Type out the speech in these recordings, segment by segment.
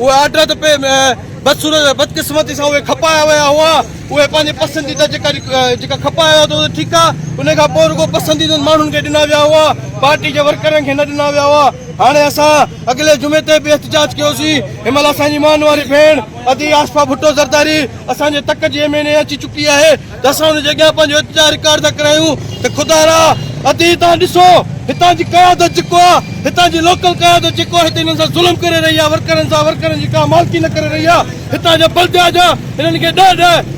اهي آرڊر ته پي بدصورت بدقسمتي سان اهي کپايا ويا هئا اهي پنهنجي پسنديده جيڪا جيڪا کپايا هئا ته ٺيڪ آ ان کان پوء رڳو پسنديدن ماڻهن کي ڏنا ويا هئا پارٽي جي ورڪرن کي نه ڏنا ويا هئا هاڻي اسان اڳلي جمعي تي به احتجاج ڪيوسين ان مهل اسان جي مان واري ڀيڻ ادي آصفه ڀٽو زرداري اسان جي تڪ جي ايم اين اي اچي چڪي آهي اسان ان جي اڳيان پنهنجو التجا رڪارڊ ٿا ڪرايون ته خدا را عتي تان ڏسو هتان جي قيادت جيڪو آ هتان جي لوڪل قيادت جيڪو آ هتي هنن سان ظلم ڪري رهي آ ورڪرن سان ورڪرن جي ڪا مالڪي نه ڪري رهي آ هتان جا بلديا جا هنن کي ڏهه ڏهه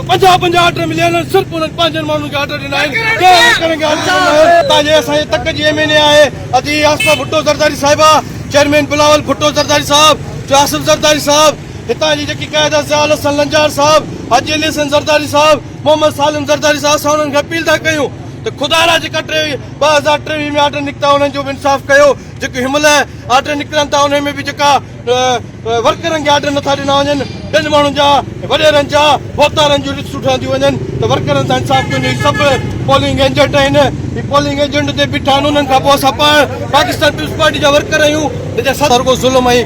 پنجاهه پنجاهه آرڊر مليا آهن صرف انهن پنهنجن ماڻهن کي آرڊر ڏنا آهن ڪنهن ورڪرن کي آرڊر ڏنا آهن هتان جي اسان جي تڪ جي ايم اين اي آهي عتي آصفه ڀٽو زرداري صاحبه چيئرمين بلاول ڀٽو زرداري صاحب جو آصف زرداري صاحب هتان جي جيڪي قائد ضياء الحسن لنجار صاحب، حاجي علي حسين زرداري صاحب، محمد سالم زرداري صاحب اسان انهن کي اپيل ٿا ڪيون ته خدا لا جيڪا ٽي ٻه هزار ٽيويهه ۾ آرڊر نڪتا انهن جو به انصاف ڪيو جيڪي هن مهل آرڊر نڪرن ٿا انهن ۾ به جيڪا ورڪرن کي آرڊر نٿا ڏنا وڃن ٻين ماڻهن جا وڏيرن جا ووتارن جون لسٽون ٺهنديون وڃن ته ورڪرن سان انصاف ڪيو وڃي سڀ پولنگ ايجنٽ آهن هي پولنگ ايجنٽ تي بيٺا آهن انهن کان پوء اسان پاڻ پاڪستان پيپلز پارٽي جا ورڪر آهيون جنهن سان رڳو ظلم ۽